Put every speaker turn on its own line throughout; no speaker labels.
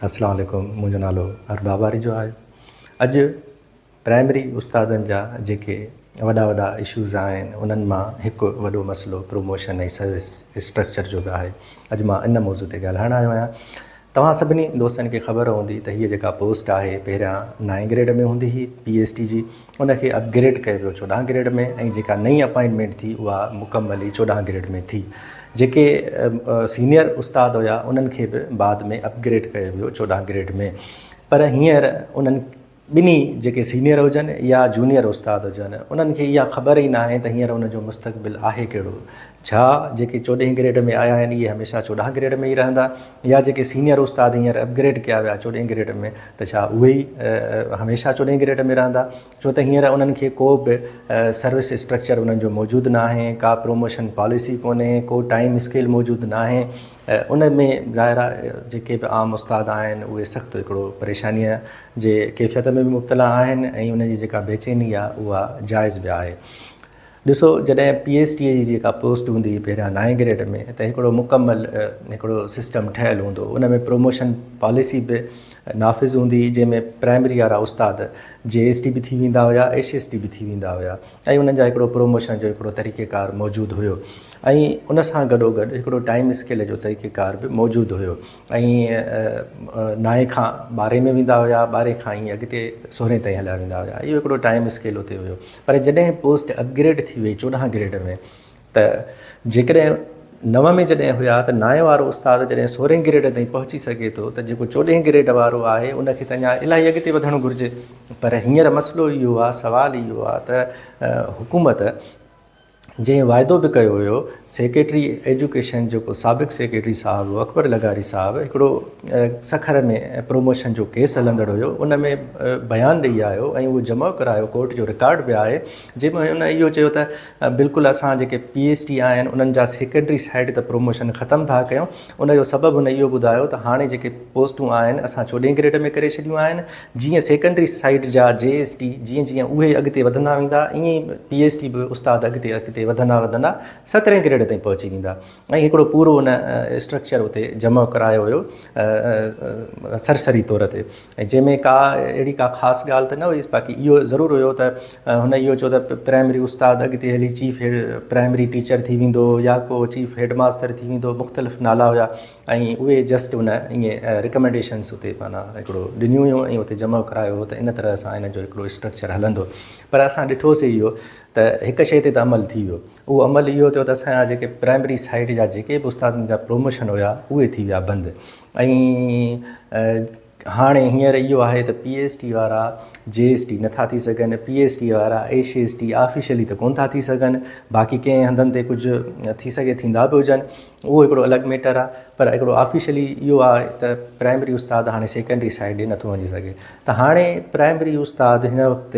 اسلام عليڪم منهنجو نالو ارباب آريجو آهي اڄ پرائمري استادن جا جيڪي وڏا وڏا اشوز آهن انهن مان هڪ وڏو مسئلو پروموشن ۽ سروس اسٽرڪچر جو به آهي اڄ مان ان موضوع تي ڳالهائڻ آيو آهيان توهان سڀني دوستن کي خبر هوندي ته هيء جيڪا پوسٽ آهي پهريان نائين گريڊ ۾ هوندي هئي پي ايس ٽي جي ان کي اپ گريڊ ڪيو ويو چوڏهن گريڊ ۾ ۽ جيڪا نئين اپائنٽمينٽ ٿي اها مڪمل ئي چوڏهن گريڊ ۾ ٿي. جيڪي سينئر استاد هيا انهن کي به بعد ۾ اپ گريڊ ڪيو ويو چوڏهن گريڊ ۾ پر هينئر انهن ٻنهي جيڪي سينئر هجن يا جونيئر استاد هجن انهن کي اها خبر ئي ناهي ته هينئر ان جو مستقبل آهي ڪهڙو. ڇا جيڪي چوڏهين گريڊ ۾ آيا آهن اهي هميشه چوڏهن گريڊ ۾ ئي رهندا يا جيڪي سينيئر استاد هينئر اپ گريڊ ڪيا ويا چوڏهين گريڊ ۾ ته ڇا اهي ئي هميشه چوڏهين گريڊ ۾ رهندا ڇو ته هينئر انهن کي ڪو به سروس اسٽرڪچر انهن جو موجود ناهي ڪا پروموشن پاليسي ڪونهي ڪو ٽائيم اسڪيل موجود ناهي ان ۾ ظاهر آهي جيڪي به عام استاد آهن اهي سخت هڪڙو پريشانيء جي ڪيفيت ۾ به مبتلا آهن ۽ انهن جي جيڪا بيچيني آهي اها جائز به آهي ڏسو جڏهن پي ايڇ ڊي جي جيڪا پوسٽ هوندي هئي پهريان نائين گريڊ ۾ ته هڪڙو مڪمل هڪڙو سسٽم ٺهيل هوندو ان ۾ پروموشن پاليسي به نافذ هوندي هئي جنهن ۾ پرائمري وارا استاد جي ايس ڊي به ٿي ويندا هيا ايش ايس ڊي به ٿي ويندا هيا ۽ انهن جا هڪڙو پروموشن جو هڪڙو طريقه ڪار موجود هيو ۽ ان سان گڏو گڏ هڪڙو ٽائيم اسڪيل جو طريقه ڪار به موجود هيو ۽ نائين کان ٻارهين ۾ ويندا هيا ٻارهين کان ائين اڳتي سورهين تائين هليا ويندا هيا اهو هڪڙو ٽائيم اسڪيل اتي هيو پر جڏهن پوسٽ اپ گريڊ ٿي وئي چوڏهن گريڊ ۾ ته جيڪڏهن نو ۾ جڏهن هيا ته نائين وارو استاد جڏهن سورهين گريڊ تائين پهچي سگهي ٿو ته جيڪو چوڏهين گريڊ وارو آهي ان کي ته اڃا الاهي اڳتي وڌڻ گهرجي پر هينئر مسئلو اهو آهي سوال اهو آهي ته حڪومت جنهن واعدو به ڪيو هيو سيڪريٽري ايجوڪيشن جيڪو سابق سيڪريٽري صاحب هو اڪبر لغاري صاحب هڪڙو سکر ۾ پروموشن جو ڪيس هلندڙ هيو ان ۾ بيان ڏئي آيو ۽ اهو جمع ڪرايو ڪورٽ جو رڪارڊ به آهي جنهن ۾ ان اهو چيو ته بلڪل اسان جيڪي پي ايس ٽي آهن انهن جا سيڪريٽري سائيڊ ته پروموشن ختم ٿا ڪيون ان جو سبب هن اهو ٻڌايو ته هاڻي جيڪي پوسٽون آهن اسان چوڏهين گريڊ ۾ ڪري ڇڏيون آهن جيئن سيڪنڊري سائيڊ جا جي ايس ٽي جيئن جيئن اهي اڳتي وڌندا ويندا ائين ئي پي ايس ٽي به استاد اڳتي اڳتي وڌندا وڌندا سترهين گريڊ تائين پهچي ويندا ۽ هڪڙو پورو ان اسٽرڪچر اتي جمع ڪرايو ويو سرسري طور تي جنهن ۾ ڪا اهڙي ڪا خاص ڳالهه ته نه هئي باقي اهو ضرور هيو ته هن اهو چيو ته پرائمري استاد اڳتي هلي چيف پرائمري ٽيچر ٿي ويندو يا ڪو چيف هيڊ ماستر ٿي ويندو مختلف نالا هيا ۽ اهي جسٽ ان ائين رڪمينڊيشنس اتي معنيٰ هڪڙو ڏنيون هيون ۽ اتي جمع ڪرايو هو ته ان طرح سان ان جو هڪڙو اسٽرڪچر هلندو پر اسان ڏٺوسي اهو ته هڪ شيء تي ته عمل ٿي ويو اهو عمل اهو ٿيو ته اسان جا جيڪي پرائمري سائيڊ جا جيڪي به استادن جا پروموشن هيا اهي ٿي ويا بند ۽ هاڻي هينئر اهو آهي ته پي ايس ٽي وارا جي ايس ٽي نٿا ٿي سگهن، پي ايس ٽي وارا ايش ايس ٽي آفيشلي ته ڪونه ٿا ٿي سگهن، باقي ڪئين هنڌن تي ڪجهه ٿي سگهي ٿيندا به هجن، اهو هڪڙو الڳ ميٽر آهي، پر هڪڙو آفيشلي اهو آهي ته پرائمري استاد هاڻي سيڪنڊري سائيڊ ڏي نٿو وڃي سگهي، ته هاڻي پرائمري استاد هن وقت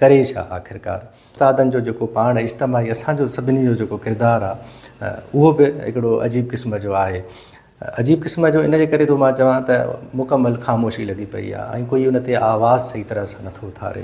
ڪري ڇا آخرڪار؟ استادن جو جيڪو پاڻ اجتماعي اسان جو سڀني جو جيڪو ڪردار آهي اهو به هڪڙو عجيب قسم جو آهي. عجيب قسم جو ان جي ڪري ٿو مان چوان ته مڪمل خاموشي لڳي پئي آهي ۽ ڪوئي ان تي آواز صحيح طرح سان نٿو اٿاري.